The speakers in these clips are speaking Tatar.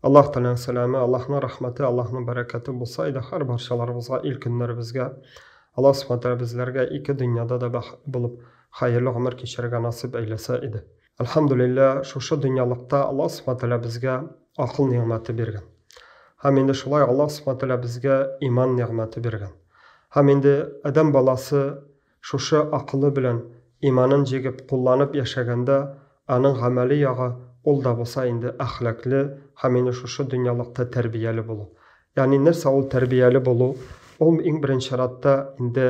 Аллаһ Тәгаләнең сәламе, Аллаһның рәхмәте, Аллаһның бәрәкәте булса иде һәр барчаларыбызга, ил көннәребезгә. Аллаһ Субхана Тәгалә безләргә ике дөньяда да бәхетле булып, хәерле гомер кичерергә насыйп әйләсә иде. Әлхәмдүлилләһ, шушы дөньялыкта Аллаһ Субхана Тәгалә безгә акыл нигъмәте биргән. Һәм инде шулай Аллаһ Субхана Тәгалә безгә иман нигъмәте биргән. Һәм инде адәм баласы Шушы акылы белән иманын җигеп кулланып яшәгәндә, аның гамәли ягы ул да булса инде әхлакле һәм инде шушы дөньялыкта тәрбияле булу. Ягъни нәрсә ул тәрбияле булу? Ул иң беренче чиратта инде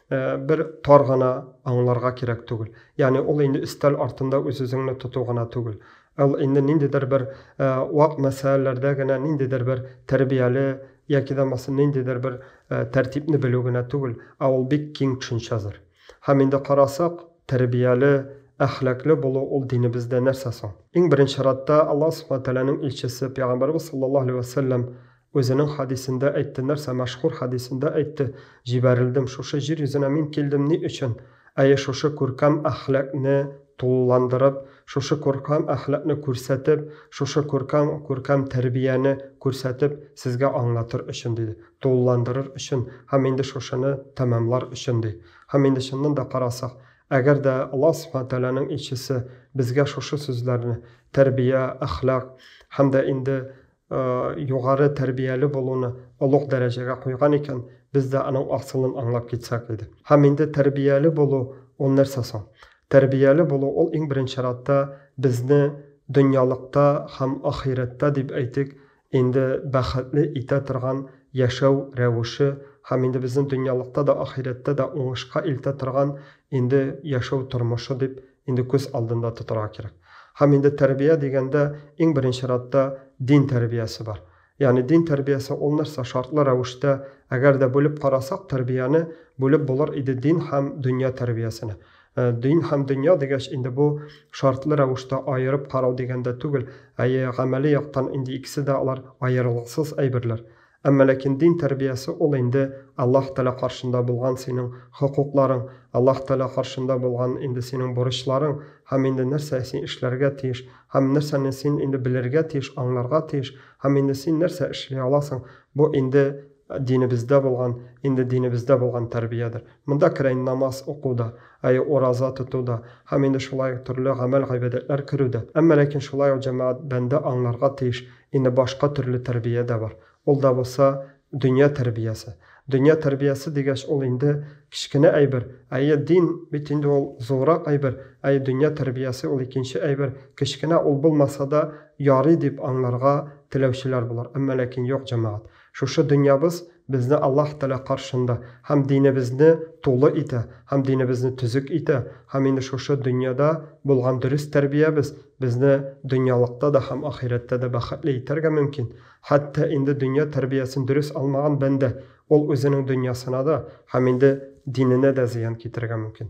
бер тар гына аңларга кирәк түгел. Ягъни ул инде өстәл артында үз-үзеңне тоту гына түгел. Ул инде ниндидер бер вак мәсьәләләрдә генә ниндидер бер тәрбияле яки да булмаса ниндидер бер тәртипне белү генә түгел, ә ул бик киң төшенчәдер. Һәм инде карасак, тәрбияле, әхлаклы булу ул динебездә нәрсә соң? Иң беренче чиратта Аллаһ Субхана Тәгаләнең илчесе Пәйгамбәребез саллаллаһу галәйһи вә сәлләм Үзенең хадисендә әйтте, нәрсә, мәшһүр хадисендә әйтте, Җибәрелдем, шушы җир йөзенә мин килдем ни өчен? Әйе, шушы күркәм әхлакне тулыландырып, шушы күркәм әхлакны күрсәтеп, шушы күркәм, күркәм тәрбияне күрсәтеп, сезгә аңлатыр өчен, диде. Тулыландырыр өчен һәм инде шушыны тәмамлар өчен, ди. Һәм инде чыннан да карасак, әгәр дә Аллаһ Субхана Тәгаләнең илчесе безгә шушы сүзләрне, тәрбия, әхлак һәм дә инде югары тәрбияле булуны олуг дәрәҗәгә куйган икән, без дә аның асылын аңлап китсәк иде. Һәм инде тәрбияле булу ул нәрсә соң? Тәрбияле булу ул иң беренче чиратта безне дөньялыкта һәм ахирәттә дип әйтик, инде бәхетле итә торган яшәү рәвеше һәм инде безне дөньялыкта да, ахирәттә дә уңышка илтә торган инде яшәү тормышы дип инде күз алдында тотарга кирәк. Һәм инде тәрбия дигәндә иң беренче радта дин тәрбиясе бар. Ягъни дин тәрбиясе ул нәрсә? Шартлы рәвештә, әгәр дә бүлеп карасак, тәрбияне бүлеп булыр иде дин һәм дөнья тәрбиясенә. Э, дин һәм дөнья дигәч инде бу шартлы рәвештә аерып карау дигәндә түгел әйе гамәли яктан инде икесе дә алар аерылгысыз әйберләр Әмма ләкин дин тәрбиясе ул инде Аллаһ Тәгалә каршында булган синең хокукларың, Аллаһ Тәгалә каршында булган инде синең бурычларың һәм инде нәрсә син эшләргә тиеш һәм нәрсәне син инде белергә тиеш, аңларга тиеш һәм инде син нәрсә эшли аласың, бу инде динебездә булган, инде динебездә булган тәрбиядер. Монда керә инде намаз уку да, әйе, ураза тоту да һәм инде шулай ук төрле гамәл-гыйбадәтләр керү дә. Әмма ләкин шулай ук җәмәгать бәндә аңларга тиеш, Инде башка төрле тәрбия дә бар. Ул да булса, дөнья тәрбиясе. Дөнья тәрбиясе дигәч, ул инде кечкенә әйбер. Әйе, дин бит инде ул зуррак әйбер. Әйе, дөнья тәрбиясе ул икенче әйбер. Кечкенә ул булмаса да ярый дип аңларга теләүчеләр булыр. Әмма ләкин юк, җәмәгать. Шушы дөньябыз безне Аллаһ Тәгалә каршында һәм динебезне тулы итә, һәм динебезне төзек итә, һәм инде шушы дөньяда булган дөрес тәрбиябез безне дөньялыкта да һәм ахирәттә дә бәхетле итәргә мөмкин. Хәтта инде дөнья тәрбиясен дөрес алмаган бәндә, ул үзенең дөньясына да һәм инде диненә дә зыян китерергә мөмкин.